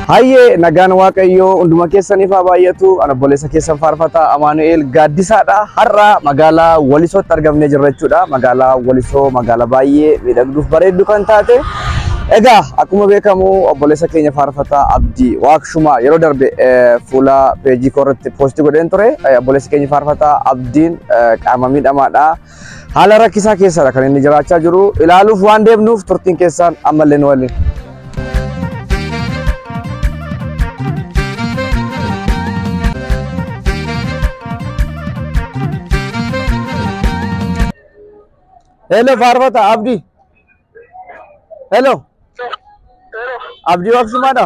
Hayyee nagaan waaqayyoo hunduma keessaniif haa baay'atu ana obboleessa keessan faarfataa Amaanu'eel Gaaddisaadha har'a magaalaa Walisootti argamnee jirra jechuudha magaalaa Walisoo magaalaa baay'ee miidhagduuf bareeddu kan taate egaa akkuma beekamu obboleessa keenya faarfataa Abdii Waaqshumaa yeroo darbe eh, fuula peejii koo irratti poostii godheen ture Eh, obboleessi keenya faarfataa Abdii Abdiin qaama miidhamaadha. Haala rakkisaa keessadha kan inni jiraachaa jiru. Ilaaluuf waan deemnuuf turtiin keessaan ammallee nu waliin. Hello Faarfata Abdi. Hello. Abdi Waaqsumaadha.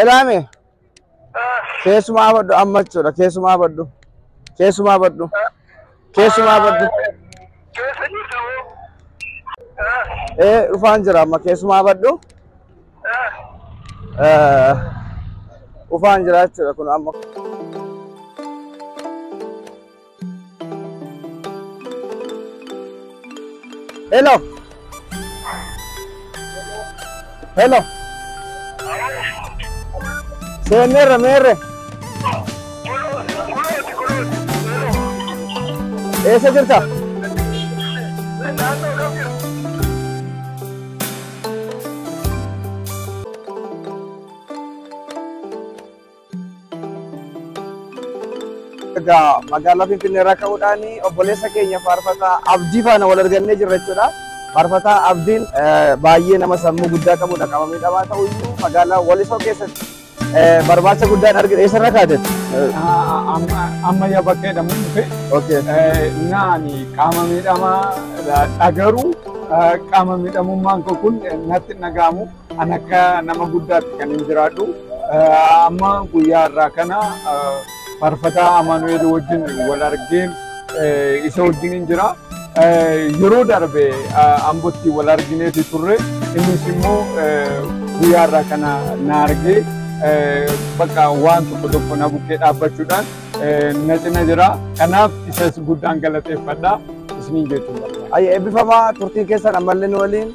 Elaame. Keessumaa baddu amma jechuudha. Keessumaa baddu. Keessumaa baddu. Keessumaa baddu. Ee dhufaan jira amma keessumaa baddu. Eh, Dhufaan jira jechuudha kun amma. Hello. Hello. Seenerra meerre. Eessa jirta? Egaa magaalaa Finfinnee irraa ka'uudhaan obboleessa keenya faarfataa abdii faana wal argannee jirra jechuudha. Faarfataa abdiin baay'ee nama sammuu guddaa qabudha qabamee dhabaa ta'u iyyuu magaalaa Walisoo keessatti barbaacha guddaan argina. Eessarra kaatetti? Amma yaa bakkee dhamuu dhufe. Okay. Naani qaama miidhamaa dhagaruu qaama miidhamummaan koo kun natti hin dhaga'amu. An akka nama guddaatti kan hin jiraadhu. Amma guyyaa irraa kana faarfataa Amaanu'eel wajjin wal argeen isa wajjin hin jira. Yeroo darbe Ambotti wal argineeti turre. Innis immoo guyyaa irraa kana na argee bakka waan tokko tokko na bukkee dhaabbachuudhaan na cina jira. Kanaaf isas guddaan galateeffadha isiniin jechuudha. Ayya eebbifamaa turtiin keessan ammallee nu waliin.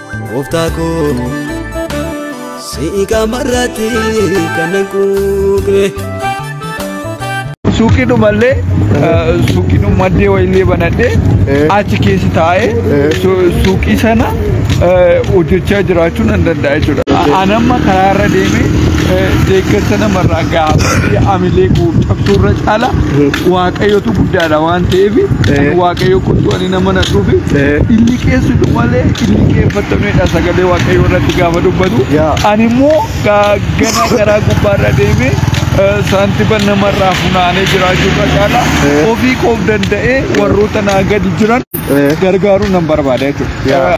Gooftaa koo si'i qaamarratti kan nan quuqne. Suuqii dhumallee suuqii dhumaddee wayillee banadhee achi keessa taa'ee suuqii sana hojjechaa jiraachuu nan danda'a jechuudha. Anamma karaa irra deemee deeggarsa namarraa gaafadhee amilee koo cabsuu irra caala waaqayyotu guddaadha waan ta'eef waaqayyo kottu nama na dhufi inni keessutu malee inni keeffatamedha sagalee waaqayyoo irratti gaafa dubbatu ani immoo gaagganaa garaa gubbaarra deemee saantiba namarraa funaanee jiraachuurra caala ofii koof danda'ee warroota naa gadi jiran gargaaruu nan barbaada jechuudha.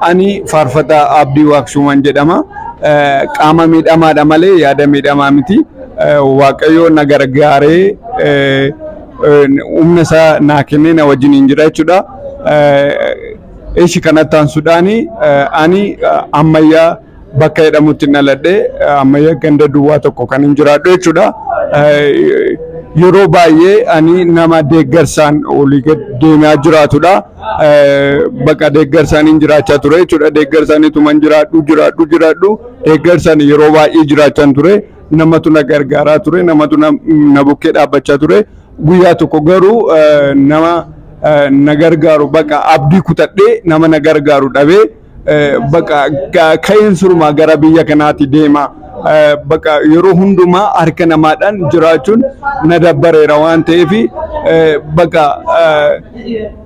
Ani faarfataa Abdii Waaqshuuman jedhama. Qaama miidhamaadha malee yaada miidhamaa miti. Waaqayyo na gargaaree humna isaa naa kennee na wajjiniin jira jechuudha. Ishi kanatti aansuudhaan ani ammayyaa bakka jedhamutti hin dhaladhe ammayya ganda duwwaa tokko kan hin jiraadhu jechuudha. Yeroo baay'ee ani nama deeggarsaan olii gad deemaa jiraatudha. Bakka deeggarsaan hin jiraachaa ture jechuudha. Deeggarsaan ituma hin jiraadhu jiraadhu jiraadhu deeggarsaan yeroo baay'ee jiraachaan ture. Namatu na gargaaraa ture namatu na bukkee dhaabbachaa ture. Guyyaa tokko garuu nama na gargaaru bakka abdii kutadhee nama na gargaaru dhabee. Baqa ka'een surmaa gara biyya kanaati deema. Baqa yeroo hundumaa harka namaadhaan jiraachuun na dabbareera waan ta'eef baqa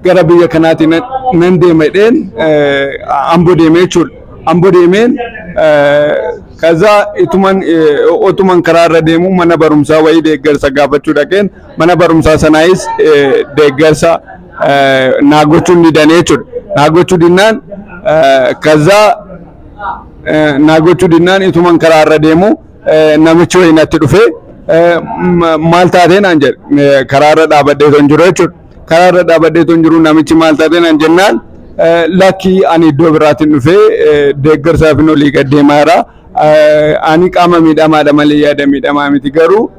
gara biyya kanaati nan deema jedheen ambo deeme jechuudha. Ambo deemeen kaza ituman otuman karaa irra deemu mana barumsaa wayii deeggarsa gaafachuu dhaqeen mana barumsaa sanaayis deeggarsa naa gochuu hin didane jechuudha. Naa gochuu dinnaan kazaa naa gochuu dinnaan ituman karaa irra deemu namichi wayii natti dhufee maal taatee naan jedhe karaa irra dhaabadhee ton jiru jechuudha. Karaa irra dhaabadhee ton jiru namichi maal taatee naan jennaan lakkii ani iddoo biraatiin dhufee deeggarsaaf hin olii gad deemaa jira. Ani qaama miidhamaadha malee yaada miidhamaa miti garuu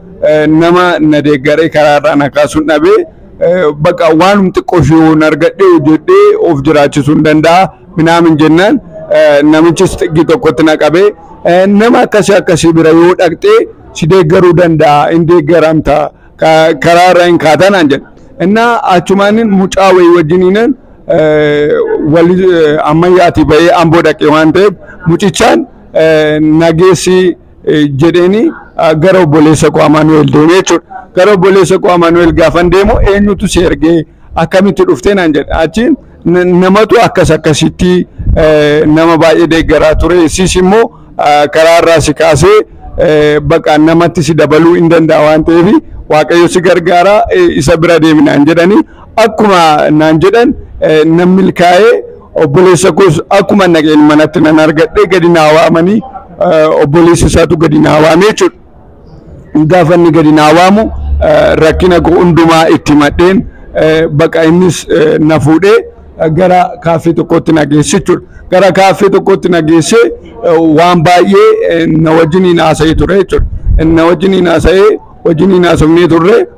nama na deeggaree karaa irraa na kaasuun dhabee Baqa waanum xiqqoo ishee yoon argadhee hojjedhee of jiraachisuun danda'a minaamin jennaan namichis xiqqii tokkotti na qabee nama akkasii akkasii bira yoo dhaqxee si deeggaruu danda'a hin deeggaramta karaa irra hin kaatanaan jedhe. Innaa achumaanin mucaa wayii wajjiniinan wal ammayyaatii bahee amboo dhaqee waan ta'eef mucichaan nageessii jedheeni gara obboleessa koo Amaanu'eel deemee jechuudha. Gara obboleessa koo Amaanu'eel gaafan deemu eenyutu si ergee akkamitti dhuftee naan jedhe. Achiin namatu akkas akkasitti nama baay'ee deeggaraa ture. Sis immoo karaa irraa si kaasee baqa namatti si dabaluu hin danda'a waan ta'eef waaqayyo si gargaara isa bira deemi naan jedhanii akkuma naan jedhan nan milkaa'ee Obboleessa koos akkuman dhaqeen manatti nan argadhe gadi naa waamanii eh, obboleessa isaatu gadi naa waamee jechuudha. Gaafa inni gadi naa waamu eh, rakkina koo hundumaa itti himadheen eh, baqa innis eh, na fuudhee eh, gara kaaffee tokkootti na geesse jechuudha. Gara kaaffee tokkootti na geesse eh, waan baay'ee eh, na wajjiniin haasa'ee ture jechuudha. Na wajjiniin haasa'ee wajjiniin haasofnee turre.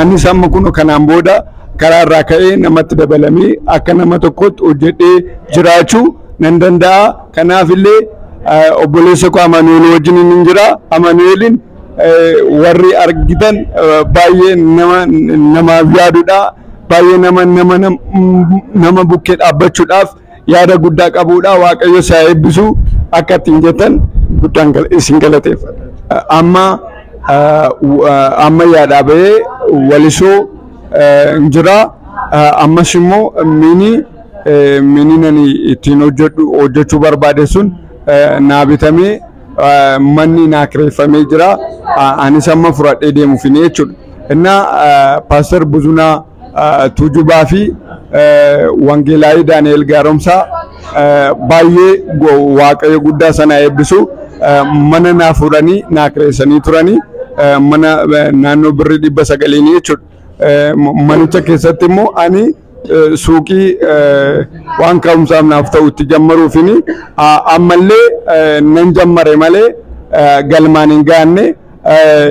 Anis amma kun kanaan booda karaa irraa ka'ee namatti dabalamee akka nama tokkotti hojjedhee jiraachuu nan danda'a. Kanaaf illee obboleessa koo Amanu'eel wajjin hin jira. Amanu'eelin warri argitan baay'ee nama namaaf yaadudha. Baay'ee nama nama nama bukkee dhaabbachuudhaaf yaada guddaa qabuudha waaqayyo si haa eebbisu akka ittiin jettan guddaan gal- isin galateeffadha. Amma ah, w- ah, amma yaadhaa bahee walisoo ah, hin jira Ah, ammas immoo mini eh, mini nani ittiin hojjedhu hojjechuu barbaade sun eh, naa bitamee ah, manni naa kireeffamee jira Ah, anis amma fudhadhee deemuuf hin jechuudha. Innaa ah, paaster Buzunaa Tuujubaa fi Wangeelaayii Daani'eel Gaaromsaa baay'ee Waaqayyo guddaa sana eebbisu mana naa fuudhanii naa kireessanii turanii mana naannoo birrii dhibba sagaliin jechuudha. Manicha keessatti immoo ani suuqii waan ka'umsaaf naaf ta'u itti jammaruufini ammallee nan jammare malee galmaan hin gaanne.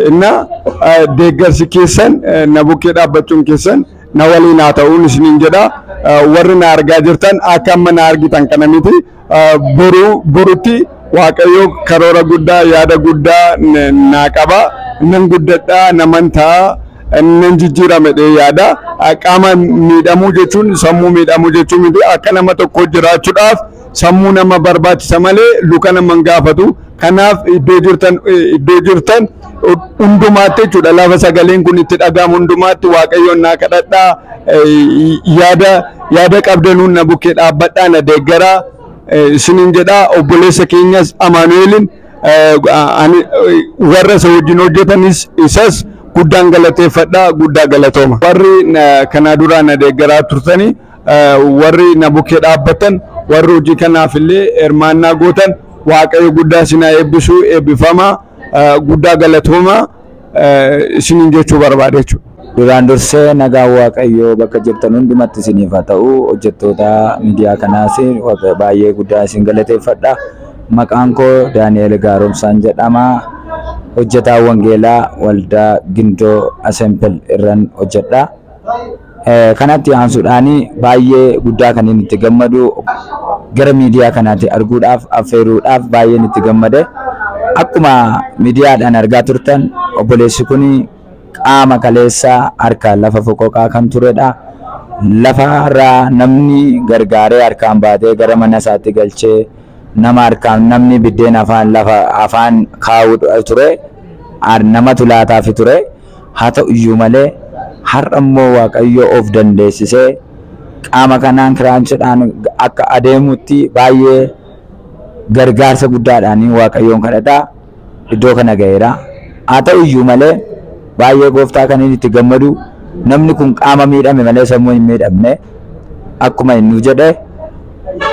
እና deeggarsi keessan na bukkee dhaabbachuun keessan na waliin haa ta'uun isiniin jedha warri na argaa jirtan akka amma na argitan kana miti boru borutti waaqayyo karoora guddaa yaada guddaa naa qaba nan guddadha naman ta'a nan jijjiirame dhee yaada qaama miidhamuu jechuun sammuu miidhamuu jechuu miti akka nama tokko jiraachuudhaaf sammuu nama barbaachisa malee luka nama hin gaafatu. Kanaaf iddoo jirtan iddoo jirtan hundumaatti jechuudha lafa sagaleen kun itti dhaga'amu hundumaatti waaqayyoon naa kadhadhaa yaada yaada qabdanuun na bukkee dhaabbadhaa na deeggaraa isiniin jedhaa obboleessa keenyas amaanu'eelin warra isa wajjin hojjetanis isas guddaan galateeffadhaa guddaa galatooma warri kanaa duraa na deeggaraa turtanii warri na bukkee dhaabbattan warri hojii kanaaf illee hirmaannaa gootan waaqayyo guddaa isin haa eebbisuu eebbifamaa guddaa galatoomaa isiniin jechuu barbaada jechuudha. Duraan dursee nagaan waaqayyoo bakka jirtan hundumatti isiniif haa ta'u hojjettoota miidiyaa kanaas baay'ee guddaa isin galateeffadha. Maqaan koo Daani'eel Gaaromsaan jedhama. Hojjetaa Wangeelaa Waldaa Gindoo Asempel irran hojjedha. Eh, kanatti aansuudhaan baay'ee guddaa kan inni itti gammadu gara miidiyaa kanaatti arguudhaaf affeeruudhaaf baay'een itti gammade akkuma miidiyaadhaan argaa turtan obboleessi kun qaama kaleessa harka lafa foqoqaa kan turedha lafarraa namni gargaaree harkaan baatee gara mana isaatti galchee nama harkaan namni biddeen afaan lafa afaan kaa'uu ture namatu laataafi ture. Haa ta'u iyyuu malee, har'a immoo Waaqayyo of dandeessisee qaama kanaan kiraanchidhaan akka adeemutti baay'ee gargaarsa guddaadhaan Waaqayyoon kadhata iddoo kana ga'eera. Haa ta'u iyyuu malee, baay'ee gooftaa kan inni itti gammadu namni kun qaama miidhame malee sammuu hin miidhamne akkuma inni jedhe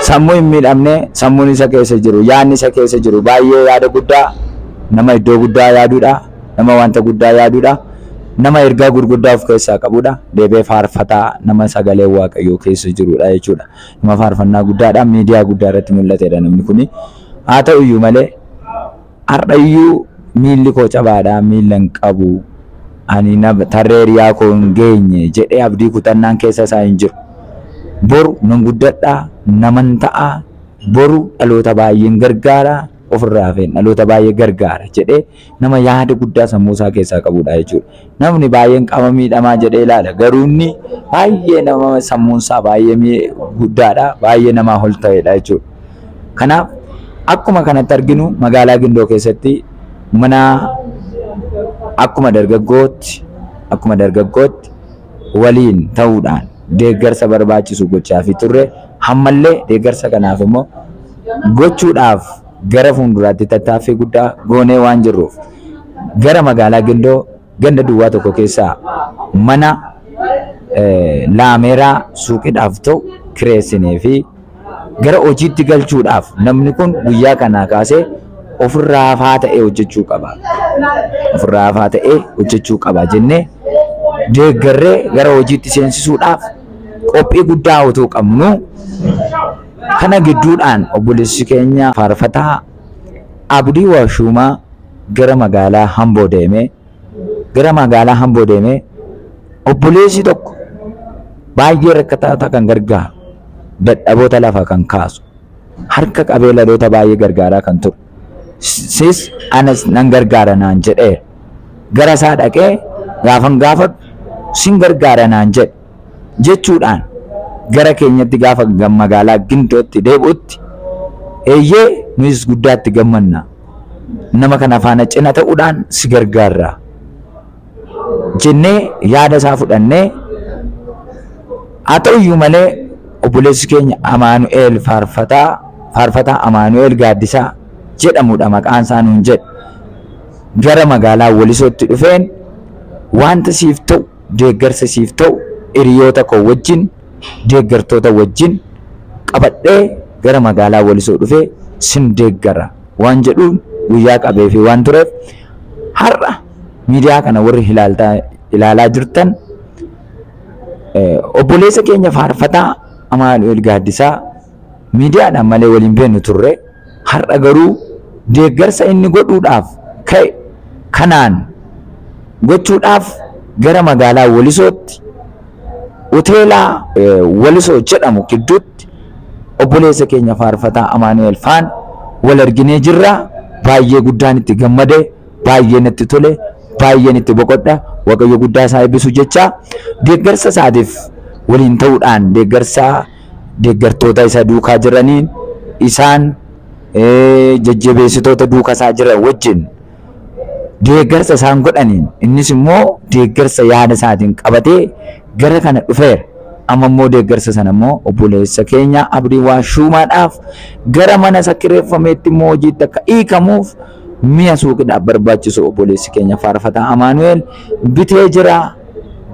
sammuu hin miidhamne sammuun isa keessa jiru yaadni isa keessa jiru baay'ee yaada guddaa nama iddoo guddaa yaaduudha. Nama wanta guddaa yaaduudha. Nama ergaa gurguddaa of keessaa qabuudha. Deebi'ee faarfataa nama sagaleen Waaqayyoo keessa jiruudha jechuudha. Nama faarfannaa guddaadhaan miidiyaa guddaa irratti mul'ateedha namni kuni. Haa ta'u iyyuu malee har'a iyyuu miilli koo cabaadha, miilla hin qabu, ani nama tarree hiriyaa koo hin geenye jedhee abdii kutannaan keessa isaa hin jiru. Boru nan guddadha, naman ta'a, boru dhaloota baay'een gargaara, ofirraa hafeen dhaloota baay'ee gargaara jedhee Nama yaada guddaa sammuu isaa keessaa qabudha jechuudha. Namni baay'een qaama miidhamaa jedhee ilaala. Garuu inni baay'ee nama sammuun isaa baay'ee mii- guddaadha. Baay'ee namaa ol ta'edha jechuudha. Kanaaf akkuma kanatti arginu magaalaa Gindoo keessatti mana akkuma dargaggootti akkuma dargaggootti waliin ta'uudhaan deeggarsa barbaachisu gochaafii turre. Ammallee deeggarsa kanaaf immoo gochuudhaaf Gara fuunduraatti tattaaffii guddaa goonee waan jirruuf gara magaalaa Gindoo ganda duwwaa tokko keessaa mana laameeraa suuqidhaaf ta'u kireessinee fi gara hojiitti galchuudhaaf namni kun guyyaa kanaa kaasee ofirraa hafaa ta'ee hojjechuu qaba. Ofirraa hafaa ta'ee hojjechuu qaba jennee deeggarree gara hojiitti seensisuudhaaf qophii guddaa utuu qabnu Kana gidduudhaan obboleessi keenya faarfataa Abdii Waashuumaa gara magaalaa Hamboo deemee gara magaalaa Hamboo deemee obboleessi tokko baay'ee rakkataata kan gargaaru dadhaboota lafa kan kaasu harka qabee laloota baay'ee gargaaraa kan ture sis anas nan gargaara naan jedhee gara isaa dhaqee gaafan gaafadhu sin gargaara naan jedhe jechuudhaan gara keenyatti gaafa ga- magaalaa Gindootti deebi'utti eeyyee nuyis guddaatti gammanna nama kana faana cina ta'uudhaan si gargaarra jennee yaada isaa fudhannee haa ta'u iyyuu malee obboleessi keenya Amaanu'eel faarfataa faarfataa Amaanu'eel Gaaddisaa jedhamudha maqaan isaa nuun jedhe gara magaalaa Wolisootti dhufeen wanta siif ta'u deeggarsa siif ta'u hiriyoota koo wajjin, deeggartoota wajjin qabadhee gara magaalaa Walisoo dhufee sin deeggara waan jedhuun guyyaa qabeefii waan tureef har'a miidiyaa kana warri ilaaltaa ilaalaa jirtan obboleessa keenya faarfataa Amaanu'eel Gaaddisaa miidiyaadhaan malee waliin beeknu turre. Har'a garuu deeggarsa inni godhuudhaaf ka'e kanaan gochuudhaaf gara magaalaa Walisootti Hoteela Walisoo jedhamu gidduutti obboleessa keenya faarfataa Amaanu'eel faan wal arginee jirra. Baay'ee guddaan itti gammade, baay'ee natti tole, baay'een itti boqodha. Waaqayyo guddaa isaa eebbisu jechaa deeggarsa isaatiif waliin ta'uudhaan deeggarsa deeggartoota isa duukaa jiraniin, isaan jajjabeessitoota duuka isaa jiran wajjin deeggarsa isaan godhaniin innis immoo deeggarsa yaada isaatiin qabatee gara kana dhufeera. Amma immoo deeggarsa sana immoo obboleessa keenya Abdii Waashuumaadhaaf gara mana isa kireeffameetti immoo hojiitti akka hiikamuuf mi'a suuqidhaaf barbaachisu obboleessi keenya faarfataa Amaanu'eel bitee jira.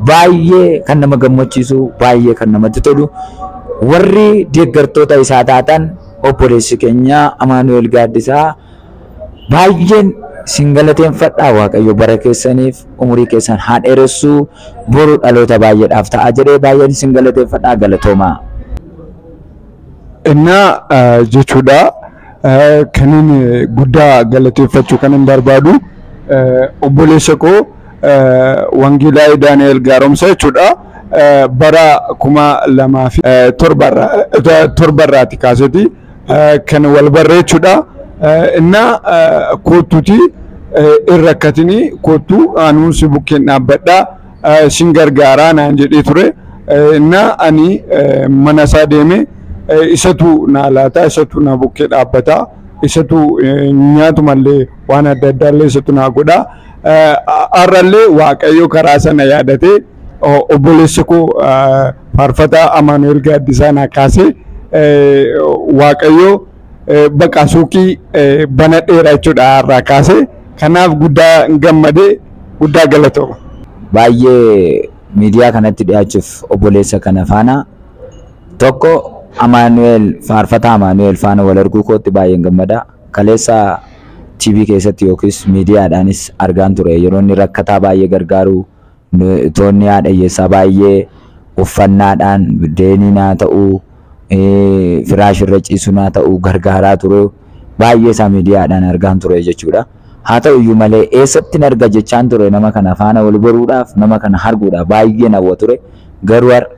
Baay'ee kan nama gammachiisu, baay'ee kan namatti tolu. Warri deeggartoota isaa taatan obboleessi keenya Amaanu'eel Gaaddisaa baay'een sin galateeffadha Waaqayyo bara keessaniif umurii keessan haa dheeressu boru dhaloota baay'eedhaaf ta'a jedhee baay'een sin galateeffadha galatoomaa. Innaa jechuudha. Eh, Kanin eh, guddaa galateeffachuu kanin barbaadu eh, obboleessa koo eh, Wangeelaa Daani'el Gaaromsa jechuudha. Eh, Bara kuma lamaa fi eh, torba irraa- eh, torba irraati kaaseti eh, kan wal barre jechuudha. Eh, Inna eh, koottuti eh, irra akkatini koottu aanuun si bukkeen dhaabbadha. eh, sin gargaaraa naan jedhee ture. Eh, Innaa ani eh, mana isaa deeme eh, isatu naa laata, isatu na bukkee dhaabbata, isatu eh, nyaatumallee waan adda addaallee isatu naa godha. Eh, Har'allee Waaqayyo karaa sana yaadatee o- obboleessi koo eh, faarfataa Amaanu'eel Gaaddisaa naa kaasee eh, Waaqayyo Bakka suuqii banadheera jechuudha irraa kaase. Kanaaf guddaa gammade guddaa galatooma. Baay'ee miidiyaa kanatti dhiyaachuuf obboleessa kana faana tokko Amaanu'eel faarfataa Amaanu'eel faana wal arguu kootti baay'een gammada. Kaleessa TV keessatti yookiis miidiyaadhaanis argaan ture yeroo inni rakkataa baay'ee gargaaruu Nu itoonni haadha hiyyeessaa baay'ee uffannaadhaan, biddeeniin haa ta'u, firaashii irra ciisuun haa ta'u gargaaraa ture. Baay'ee isaa miidiyaadhaan argaan ture jechuudha. Haa ta'u iyyuu malee eessattin arga jechaan ture nama kana faana wal baruudhaaf, nama kana arguudhaaf baay'een hawwa ture. Garuu har'a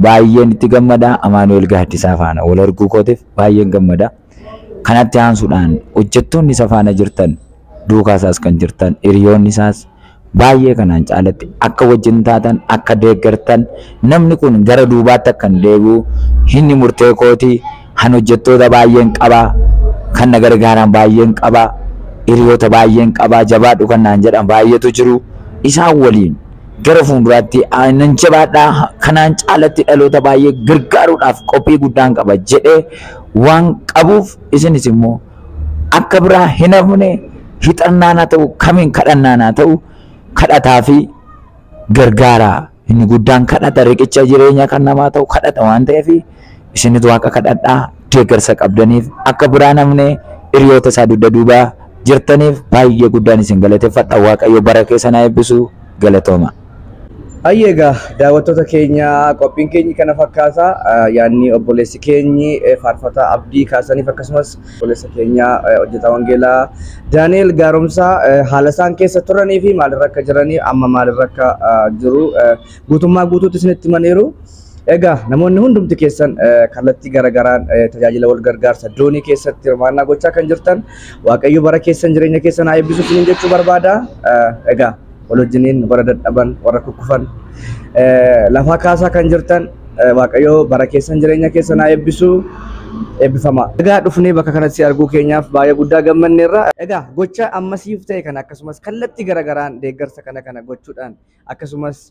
baay'een itti gammada. Amaanu'eel Gaaddisaa faana wal arguu kootiif baay'een gammada. Kanatti aansuudhaan hojjettoonni isa faana jirtan, duukaa isaas kan jirtan, hiriyoonni isaas baay'ee kanaan caalatti akka wajjin taatan, akka deeggartan, namni kun gara duubaatti akka hin deebi'u, inni murtee kooti, han hojjettoota baay'een qaba, kan na gargaaran baay'een qaba, hiriyoota baay'een qaba, jabaadhu kan naan jedhan baay'eetu jiru. Isaan waliin gara fuulduraatti ah, nan jabaadha, kanaan caalatti dhaloota baay'ee gargaaruudhaaf qophii guddaan qaba jedhee waan qabuuf isinis immoo akka biraa hin hafne hixannaan haa ta'u kamiin kadhannaan haa ta'u kadhataa fi gargaaraa inni guddaan kadhata riqicha jireenya kan namaa ta'u kadhata waan ta'eef isinis waaqa kadhadhaa deeggarsa qabdaniif akka biraa hin hafne hiriyoota isaa dugda duubaa jirtaniif baay'ee guddaan isin galateeffadha waaqayyo bara keessan haa eebbisu galatooma. Ayyee egaa daawwattoota keenya qophiin keenyi kana fakkaata. Eh, Yaadni obboleessi keenyi eh, faarfataa abdii kaasaniif akkasumas obboleessa keenya eh, hojjetaa wangeelaa Daani'el Gaaromsaa eh, haala isaan keessa turanii fi maalirra akka jiranii amma maalirra akka ah, jiru eh, guutummaa guutuutti isinitti himaniiru. Egaa namoonni hundumti keessan eh, kallattii garagaraan eh, tajaajila wal gargaarsa doonii keessatti hirmaannaa gochaa kan jirtan Waaqayyo bara keessan jireenya keessan haa eebbisu isiniin jechuu barbaada. Eh, Egaa wal wajjiniin warra dadhaban warra kukkufan lafaa kaasaa kan jirtan waaqayyoo bara keessan jireenya keessan haa eebbisu eebbifamaa. Egaa dhufnee bakka kanatti arguu keenyaaf baay'ee guddaa gammanneerra. Egaa gocha ammasiif ta'e kana akkasumas kallattii garagaraan deeggarsa kana kana gochuudhaan akkasumas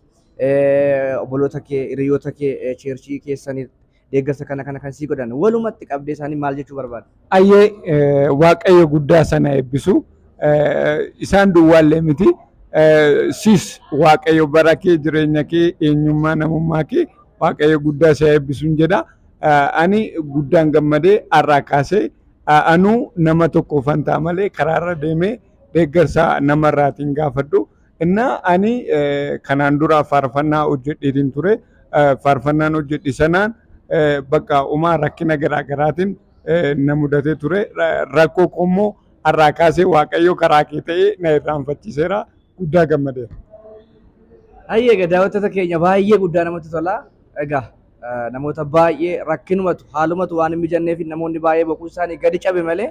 obboloota kee hiriyoota kee cheerchii keessanii deeggarsa kana kana kan sii godhan walumatti qabdee isaanii maal jechuu barbaada? Ayyee eh, waaqayyo guddaa sana eebbisu Eh, isaan duwwaallee miti Eh, siis waaqayyo bara kee jireenya kee eenyummaa namummaa kee waaqayyo guddaa si haa eebbisuun jedha Eh, ani guddaan gammadee har'aa kaasee eh, anuu nama tokko fantaa malee karaarra deemee deeggarsa namarraatiin gaafadhu Innaa ani kanaan dura faarfannaa hojjedheetiin ture. Faarfannaan hojjedhe sanaan bakka umaa rakkina garaa garaatiin na mudatee ture. Rakkoo koo immoo har'aa kaasee Waaqayyo karaa kee ta'ee na irraanfachiiseera. Guddaa gammadeera. Hayyee egaa daawwattoota keenya baay'ee guddaa namatti tola. Egaa namoota baay'ee rakkinumatu haalumatu waan hin mijanneef namoonni baay'ee boquun isaanii gadi cabe malee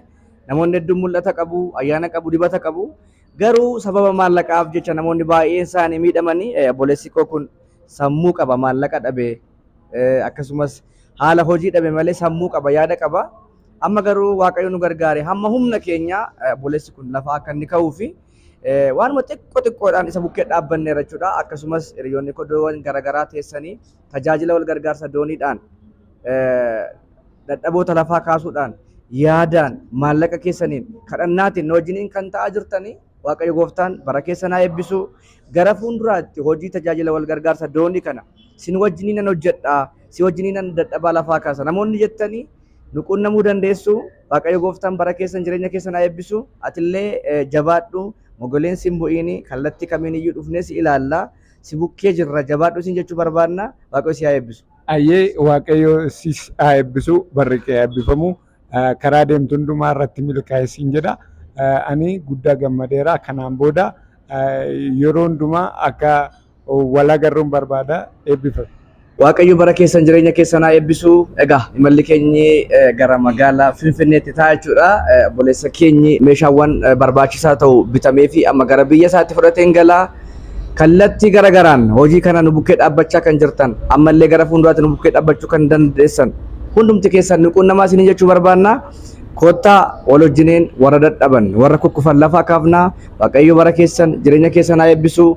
namoonni hedduun mul'ata qabu, ayyaana qabu, dibata qabu. Garuu sababa maallaqaaf jecha namoonni baay'een isaanii miidhamanii obboleessi koo kun sammuu qaba maallaqa dhabe akkasumas haala hojii dhabe malee sammuu qaba yaada qaba. Amma garuu waaqayyo nu gargaare hamma humna keenya obboleessi kun lafaa akka inni ka'uu fi waanuma xiqqoo xiqqoodhaan isa bukkee dhaabbanneerra jechuudha. Akkasumas hiriyoonni koo iddoowwan garaagaraa teessanii tajaajila wal gargaarsa dooniidhaan dadhaboota lafaa kaasuudhaan yaadaan maallaqa keessaniin kadhannaatiin nu wajjiniin kan ta'aa jirtanii Waaqayyo gooftaan bara keessanaa eebbisu gara fuulduraatti hojii tajaajila wal gargaarsa doonii kana sin wajjiniin nan hojjedha si wajjiniin nan dadhabaa lafaa kaasa namoonni jettanii nu quunnamuu dandeessu Waaqayyo gooftaan bara keessan jireenya keessanaa eebbisu atillee jabaadhu mogoleen sin bu'iini kallattii kamiin iyyuu dhufnee si ilaalla. si bukkee jirra jabaadhu siin jechuu barbaadna waaqayyo si haa eebbisu. Ayyee waaqayyo sis haa eebbisu barri kee eebbifamu karaa deemtu hundumaa irratti milkaa'e siin jedha ani guddaa gammadeera kanaan booda yeroo hundumaa akka wal agarruun barbaada eebbifame. Waaqayyo bara keessan jireenya keessan haa eebbisu. Egaa imalli keenyi eh, gara magaalaa Finfinneetti ta'a jechuudha. Eh, Obboleessa keenyi meeshaawwan eh, barbaachisaa ta'u bitamee fi amma gara biyya isaatti fudhateen gala. Kallattii gara garaan hojii kana nu bukkee dhaabbachaa kan jirtan ammallee gara fuulduraatti nu bukkee dhaabbachuu kan dandeessan hundumti keessan nu quunnamaa isinii jechuu barbaanna. Kottaa wal wajjiniin warra dadhaban warra kukkufan lafaa kaafnaa Waaqayyo bara keessan jireenya keessan haa eebbisu.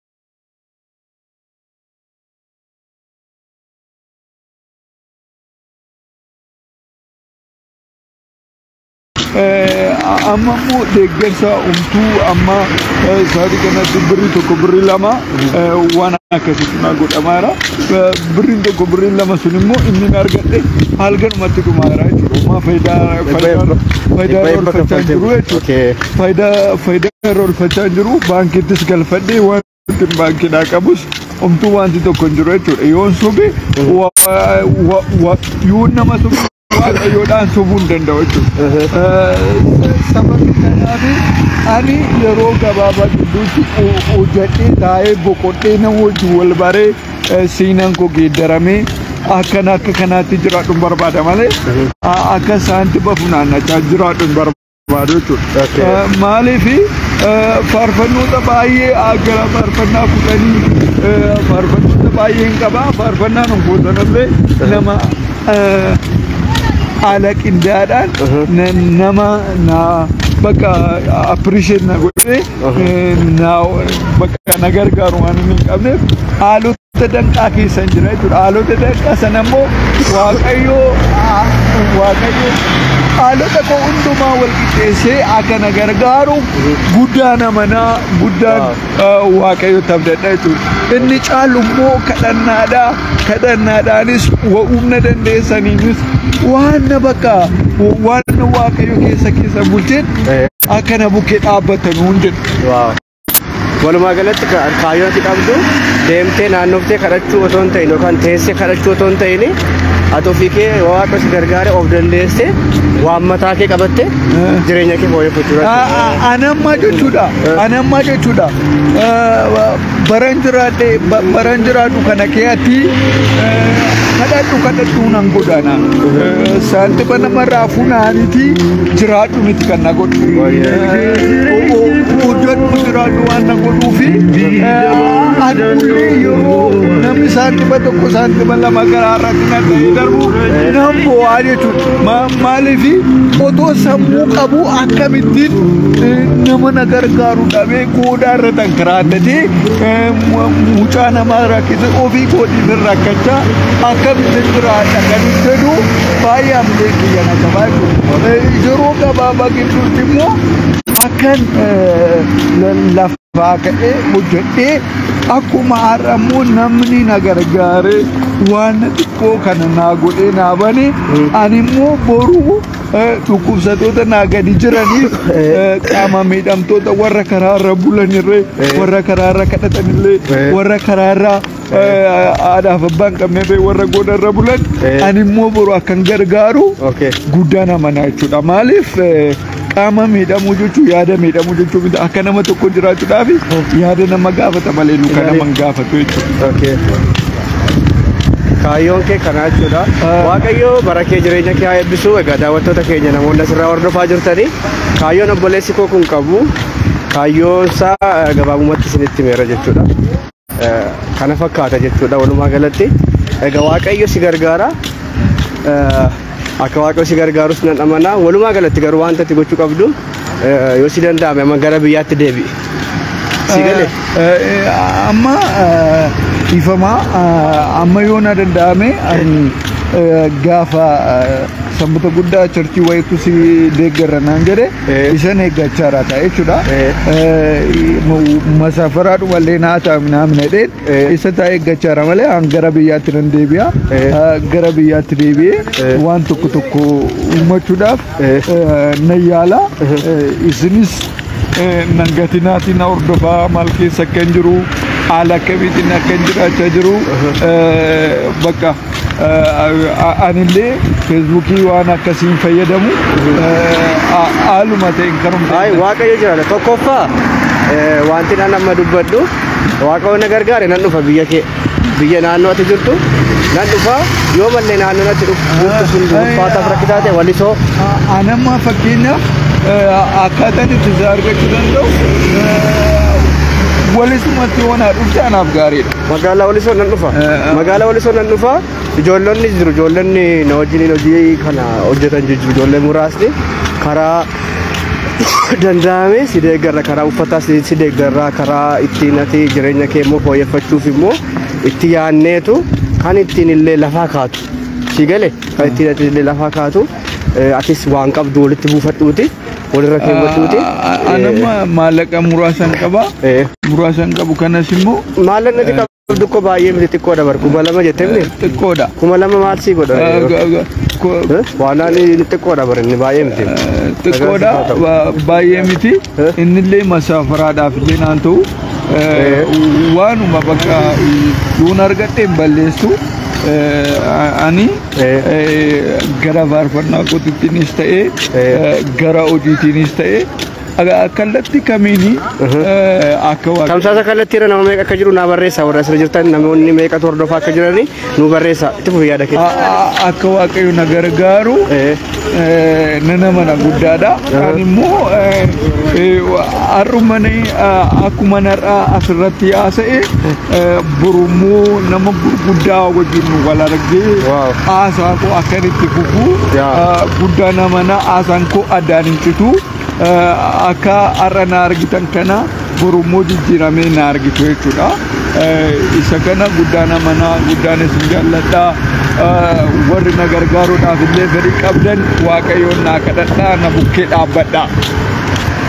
amma immoo deeggarsa umtuu amma sa'aatii kanatti birri tokko birri lama waan akkasitti naa godhamaara. Birriin tokko birriin lama sun immoo inni na argadhe halkanumatti dhumaara jechuudha. Amma faayidaa faayidaa faayidaa oolfachaa jiru jechuudha. faayidaa faayidaa irra olfachaa hin jiru baankiittis galfadhee wanti baankiidhaa qabus omtuu wanti tokko hin jiru jechuudha yoon sobe wa- wa- wa- yoon nama sobe waaqayyoodhaan sobuu hin danda'u jechuudha. Sababni kanaaf ani yeroo gabaabaa gidduutti ho- hojjedhee taa'ee boqodhee nama wajjin wal baree eh, seenaan koo geeddaramee akkana akka kanaatti jiraadhu hin barbaada malee a- akka saantiba funaannachaa jiraadhu hin barbaada. barbaadu jechuudha. Maaliif faarfannoota baay'ee gara faarfannaa kudhanii faarfannoota baay'een qaba. Faarfannaan hojjetanillee nama haala qindaadhaan nama naa bakka appreciate na godhee naa bakka na gargaaru waan hin qabneef haalota Dhaloota danqaa keessa hin jira jechuudha. Dhaloota danqaa sana immoo Waaqayyoo Waaqayyoo haalota koo hundumaa wal qixxeessee akka na gargaaru guddaan amanaa guddaan Waaqayyootti abdadha jechuudha. Inni caalu immoo kadhannaadha. Kadhannaadhaanis humna dandeessaniinis waan na bakka waan Waaqayyo keessa keessa bulteen akka na bukkee dhaabbatan hundin. Walumaa galatti kaayyoon ati qabdu deemtee naannoftee kadhachuu otoo hin ta'in yookaan teessee kadhachuu otoo hin ta'in ati ofii kee waaqa si gargaare of dandeessee waan mataa kee qabatte jireenya kee fooyyeffachuu dandeessa. Anammaa jechuudha. Anammaa jechuudha. Baran jiraadhe baran jiraadhu kana keeyatti kadhadhu kadhadhu nan godhana. Saantima namarraa funaaniti jiraadhu miti kan na godhu. hojjadhu jiraadhu waan na godhuufi adullee yeroo namni isaan dhiba tokko isaan dhiba lama garaa rakkina ta'e darbu nan bo'aa jechuudha maaliif otoo sammuu qabu akkamittiin nama na gargaaru dhabee goodaa irra tankiraattatee mucaa namaa rakkise ofii kootiin irra rakkachaa akkamittiin jiraadha kan jedhu baay'ee amlee kiyya na qabaa jechuudha yeroo gabaabaa jechuutti immoo akkan lafaa ka'ee hojjedhee akkuma har'a immoo namni na gargaaree waan xiqqoo kana naa godhee naa bane ani immoo boruu dhukkubsatoota naa gadi jiraniif qaama miidhamtoota warra karaarra bulanirree warra karaarra kadhatanillee warra karaarra Haadhaaf abbaan qabnee ta'e warra goda irra bulan ani immoo boru akkan gargaaru guddaan amanaa jechuudha. Maaliif qaama miidhamuu jechuun yaada miidhamuu jechuun miti akka nama tokko jiraachuudhaaf yaada nama gaafata malee nu kan nama hin gaafatu jechuudha. Kaayyoon kee kanaa jechuudha. Waaqayyo bara kee jireenya kee haa eebbisu. Egaa daawwattoota keenya namoonni asirraa hordofaa jirtanii kaayyoon obboleessi koo kun qabu kaayyoon isaa gabaabumatti isinitti himeera jechuudha. kana fakkaata jechuudha walumaa galatti egaa waaqayyo si gargaara akka waaqayyo si gargaarus nan amanaa walumaa galatti garuu wanta ati gochuu qabdu yoo si danda'ame amma gara biyyaatti deebi'i si gale amma dhiifama amma yoo na danda'ame gaafa sanbata guddaa charchii wayiitu si deeggarra naan jedhe ishen eeggachaa jira ta'a jechuudha. Masaafaraa dhumallee naa ta'a minaamin jedheen isa ta'a eeggachaa jira malee an gara biyyaatti nan deebi'a. Gara biyyaatti deebi'ee waan tokko tokko uummachuudhaaf nan yaala. Isinis nan gatinaatiin na hordofaa maal keessa akka hin jiru haala akkamiitiin akka hin jiraachaa jiru bakka. Anillee feesbuukii waan akkasiin fayyadamu haaluma ta'een karumsa. Ay, waaqayyo jiraata. Tokkoffaa eh, wanti nan amma dubbadhu waaqayyo na gargaare nan dhufa biyya kee biyya naannoo ati jirtu nan dhufa yoo mallee naannoo natti dhufu jirtu sun ulfaataaf rakkisaa ta'e walisoo Anamma fakkeenyaaf akkaataan itti isaa argachuu danda'u walisumatti waan haa dhufte anaaf gaariidha. Magaalaa Walisoo nan dhufa. Magaalaa Walisoo nan dhufa. Ijoollonni jiru. Ijoollonni na wajjiniin hojii kana hojjetan jiru. Ijoollee muraasni karaa danda'ame si deeggarra karaa uffataa si si deeggarra karaa ittiin ati jireenya kee immoo fooyyeffachuuf immoo itti yaanneetu kan ittiin illee lafaa kaatu. Si gale kan ittiin ati illee lafaa kaatu. eh, Atis waan qabdu walitti buufadhuuti. walirra keewwachuuti. Anamma maallaqa muraasan qaba. Eh. Muraasan qabu kanas immoo Maallaqni ati qabdu koo baay'ee miti xiqqoodha bar kuma lama jettee miti. xiqqoodha. Kuma lama maal sii godha? Eh, ga- ga- ko- Eh? Waanaan inni xiqqoodha bar inni baay'ee miti. xiqqoodha ba- baay'ee miti Eh? innillee masaafaraadhaaf illee naan ta'u eh, Eh. waanuma bakka yoon argadhe hin balleessu eh, ani gara faarfannaa kootiinis ta'ee gara hojiitiinis ta'ee kallattii kamiin akka waan Tamsaasa kallattii irra nama meeqa akka jiru naa barreessaa warra asirra jirtan namoonni meeqatu hordofaa akka jiranii nu barreessaa itti fufi yaada keessa. akka waaqayyo na gargaaru nan amana guddaadha. Kan immoo har'umani akkuma narraa asirratti haasa'e borummoo nama gurguddaa wajjin wal argee haasaa koo akkan itti fufu guddaa namana haasaan koo addaan hin citu. Akka har'a na argitan kana boru immoo jijjiiramee na argitu jechuudha. Isa kana guddaan amanaa guddaan isin jaalladha. Warri na gargaaruudhaaf illee fedhii qabdan waaqayyoon naa kadhadhaa na bukkee dhaabbadha.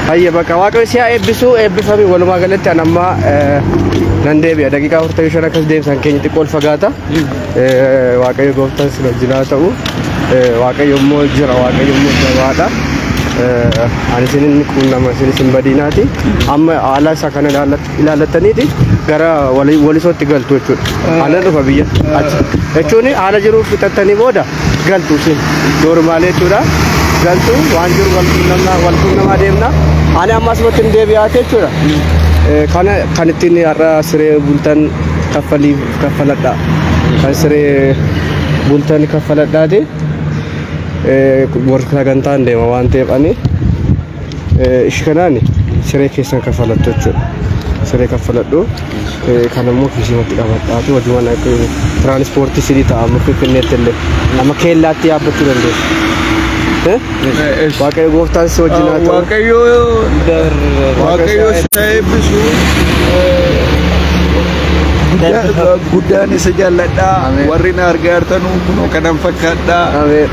Hayya bakka waaqayyo si haa eebbisu eebbifami walumaa galatti an ammaa nan deebi'a daqiiqaa 45 akkas deemsan keenya xiqqoo ol fagaata. waaqayyo gooftaan sin wajjin haa ta'u waaqayyo immoo jira waaqayyo immoo jabaadha ani isin inni quunnama isin isin badiinaati amma haala isaa kana ilaallattaniiti gara walisootti galtu jechuudha ana dhufa biyya achi jechuun haala jiru fixattanii booda galtu isin doormaalee jechuudha galtu waan jiru walquunnamaa deemna ani amma asumatti hin deebi'aate jechuudha kana kan ittiin har'a siree bultan kaffaliif kaffaladhaa kan siree bultan kaffaladhaati warra sagantaan deema waan ta'eef ani ishi kanaan siree keessan kaffalattu jechuudha siree kaffaladhu kan immoo kiisiimatti qabadhaati wajuman tiraanispoortii sirii ta'a amma finfinneetti illee amma keellaatti yaabbachuu dandeessu. Waaqayyo gooftaan si wajjin haa ta'u. Waaqayyo Waaqayyo si haa eebbisu. Guddaa- Guddaan isa jaalladha. Ameen. Warri na argaa jirtan kunoo kanan fakkaadha. Ameen.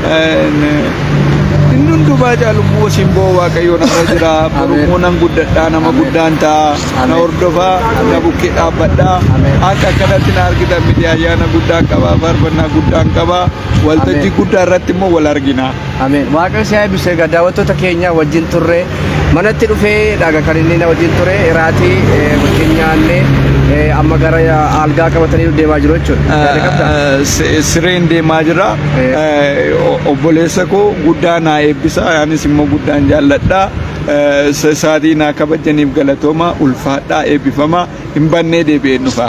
Inni hundumaa caalu immoo simboo Waaqayyo narra jira. Boru Ameen. immoo nan guddadha nama Ameen. guddaan ta'a. Na Ameen. hordofa na bukkee dhaabbadha. Ameen. Akka akkanatti na argitan miti ayyaana guddaan qaba. Faarfannaa guddaan qaba. Waltajjii Ameen. guddaa irratti immoo wal argina. Ameen. Waaqayyo si haa eebbisu. Egaa daawwattoota keenya wajjin turre manatti dhufee dhaga kan inni na wajjin ture iraatii eh, wajjin nyaannee eh, amma gara algaa qabatanii deemaa jiru jechuudha. Yaada qabdaa? Eh, si- Sireen deemaa jira. Eh. Eh, o- Obboleessa koo guddaa naa eebbisa. Anis immoo guddaan jaalladha. Eh, sa- Sa'aatii naa kabajaniif galatooma ulfaadhaa eebbifama hin bannee deebi'een dhufa.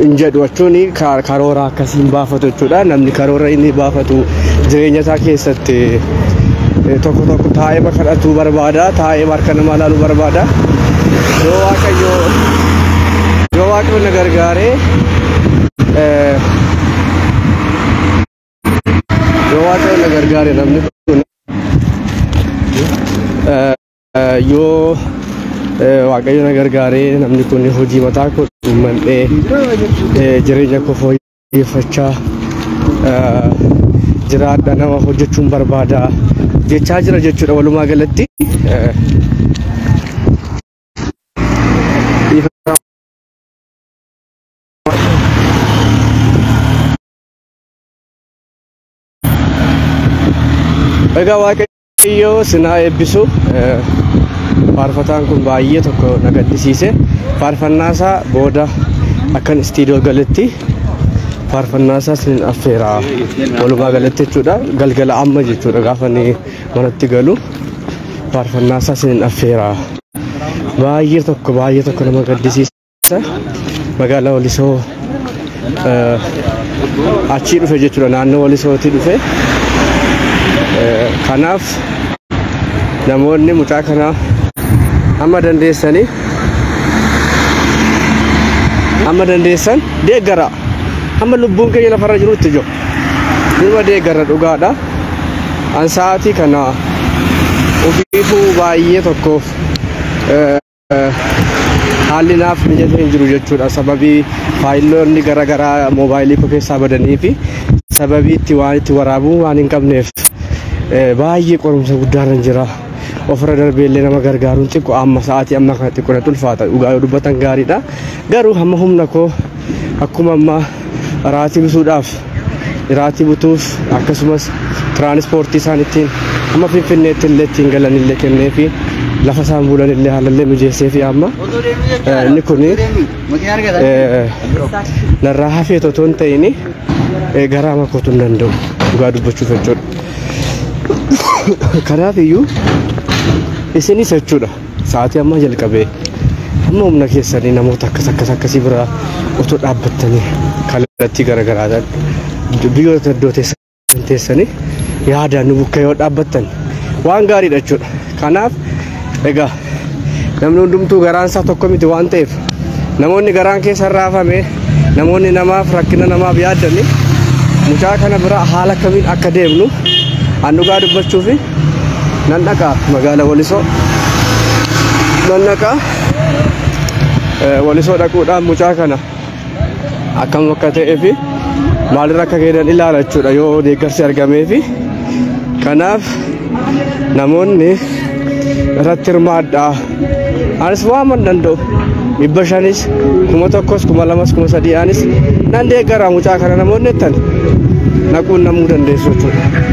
hin jedhu jechuun ka- karoora akkasii hin baafatu jechuudha. Namni karoora inni baafatu jireenya isaa keessatti eh, tokko tokko taa'ee kadhatuu barbaada, taa'ee harka namaa ilaaluu barbaada. Yoo waaqayyo yoo waaqayyo na gargaaree eh, yoo waaqayyo na gargaare namni kun eh, Yoo waaqayyo na gargaaree namni kun hojii mataa koo uummadhee jireenya koo fooyyeffachaa jiraadha nama hojjechuun barbaada jechaa jira jechuudha walumaa galatti. Egaa waaqayyo. Waaqayyoo sin haa eebbisu. Faarfataan kun baay'ee tokko na gaddisiise. Faarfannaasaa booda akkan istiidiyoo galetti faarfannaasaa sin affeera. Walumaa galatti jechuudha. Galgala amma jechuudha gaafa inni manatti galu faarfannaasaa sin affeera. Baay'ee tokko baay'ee tokko nama gaddisiisa. Magaalaa Walisoo achii dhufe jechuudha naannoo Walisootii dhufe. Kanaaf namoonni mucaa kana amma dandeessanii amma dandeessan deeggara amma lubbuun keenya lafarra jirutti jiru numa deeggara dhugaadha an sa'aatii kana ofiifuu baay'ee tokkoof haalli naaf mijatee hin jiru jechuudha sababii faayiloonni gara garaa moobaayilii koo keessaa badanii fi sababii itti waan itti waraabuu waan hin qabneef eh, baay'ee qorumsa guddaarra hin jira ofirra darbee illee nama gargaaruun xiqqoo amma sa'aatii amma kana xiqqoo natti ulfaata dhugaa yoo dubbatan gaariidha garuu hamma humna koo akkuma amma raatii bisuudhaaf iraatii butuus akkasumas tiraanispoortii isaan ittiin amma finfinneetti illee ittiin galan illee kennee fi lafa isaan bulan illee haalallee mijeessee fi amma inni kun narraa hafee otoo hin ta'in garaa makootu hin danda'u dhugaa dubbachuuf jechuudha. Kanaaf iyyuu isinis jechuudha. Sa'aatii ammaa jalqabee amma humna keessanii namoota akkas akkas akkasii bira otoo dhaabbattanii kallattii garaagaraatiin biyyoota iddoo teessan teessanii yaadaan nu bukkee yoo dhaabbattan waan gaariidha jechuudha. Kanaaf egaa namni hundumtuu garaan isaa tokko miti waan ta'eef namoonni garaan keessa raafame namoonni namaaf rakkina namaaf yaadanii mucaa kana bira haala kamiin akka deemnu an dhugaa dubbachuu fi Nan dhaqa magaala Walisoo. Nan dhaqa Walisoo dhaquudhaan mucaa kana akkam akka ta'ee fi maalirra akka geeddan ilaala jechuudha yoo deeggarsi argamee fi kanaaf namoonni irratti hirmaadhaa. Anis waaman danda'u dhibba shanis kuma tokkos kuma lamas kuma sadii anis nan deeggara mucaa kana namoonni jettan naquun namuu dandeessu jechuudha.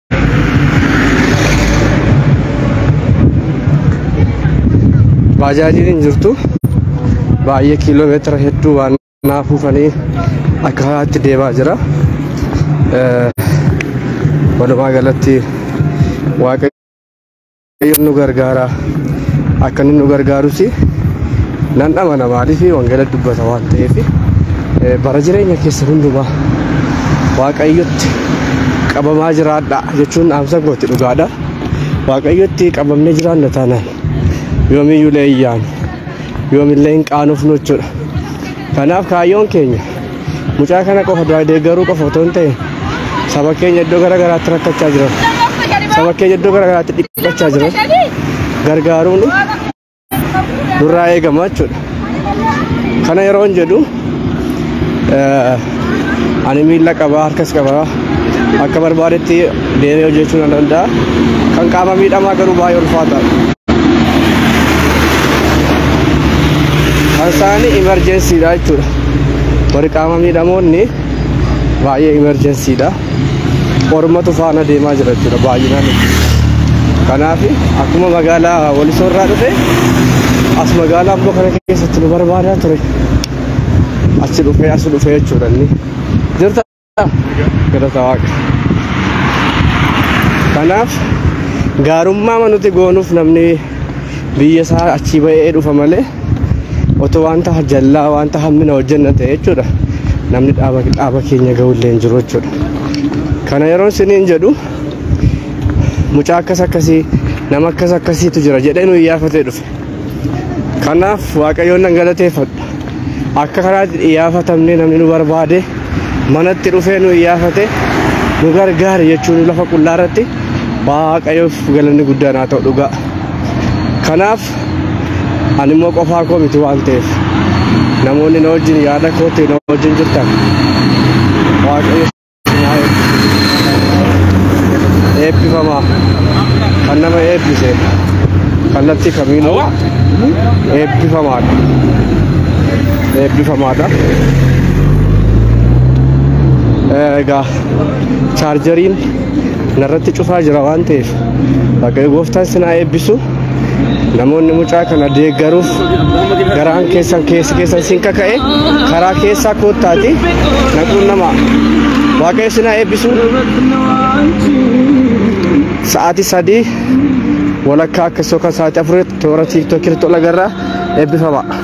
baajaajiin hin jirtu baay'ee kiiloo meetira hedduu waan naa fuufanii akka haatti deemaa jira walumaa galatti waaqayyo Waaqayyoon nu gargaara akka inni nu gargaarus nan amana maaliif wangeela dubbata waan ta'eef bara jireenya keessa hundumaa waaqayyotti qabamaa jiraadha jechuun dhaamsa kooti dhugaadha. Waaqayyotti qabamnee jiraanna taanaan yoomiyyuu leeyyaan yoomillee hin qaanofnu jechuudha. Kanaaf kaayyoon keenya mucaa kana qofa du'aa deeggaruu qofa otoo hin ta'in saba keenya iddoo gara garaatti rakkachaa jiran saba keenya iddoo gara garaatti dhiphachaa jiran gargaaruun nurraa eegama jechuudha. Kana yeroo hin jedhu ani miila qabaa harkas qabaa akka barbaadetti Deemee hojjechuu nan danda'a. Kan qaama miidhamaa garuu baay'ee ulfaataadha. Kan isaanii imerjensiidha jechuudha. Warri qaama miidhamoonni baay'ee imerjensiidha. Ormatu faana deemaa jira jechuudha baay'inaan. Kanaaf akkuma magaalaa Walisoo irraa dhufe as magaalaa ammoo kana keessatti nu barbaadaa ture. Achi dhufee as dhufee jechuudha inni. Jirta Galata waaqa. Kanaaf gaarummaa nuti goonuuf namni biyya isaa achii ba'ee dhufa malee otoo wanta jallaa wanta hammina hojjenna ta'e jechuudha. Namni dhaaba dhaaba keenya ga'ullee hin jiru jechuudha. Kana yeroo isiniin jedhu mucaa akkas akkasii nama akkas akkasiitu jira jedhee nu iyyaafatee dhufe. Kanaaf Waaqayyoon nan galateeffadha. Akka kanaatti iyyaafatamnee namni nu barbaade manatti dhufee nu iyyaafate nu gargaari jechuun lafa qullaa irratti Waaqayyoof galanni guddaan haa ta'u dhugaa. Kanaaf ani immoo qofaa koo miti waan ta'eef namoonni na wajjin yaada kootti na wajjin jirtan Waaqayyo eebbifamaa kan nama eebbise kallattii kamiinuu eebbifamaadha eebbifamaadha egaa chaarjariin narratti cufaa jira waan ta'eef waaqayyo gooftaan sinaa eebbisu namoonni mucaa kana deeggaruuf garaan keessan keessi keessan sin kaka'e karaa keessaa koottaati naquun nama waaqayyo sin haa eebbisu sa'aatii sadii walakkaa akkasii yookaan sa'aatii afurii toora tiiktookii irratti ol agarra eebbifama.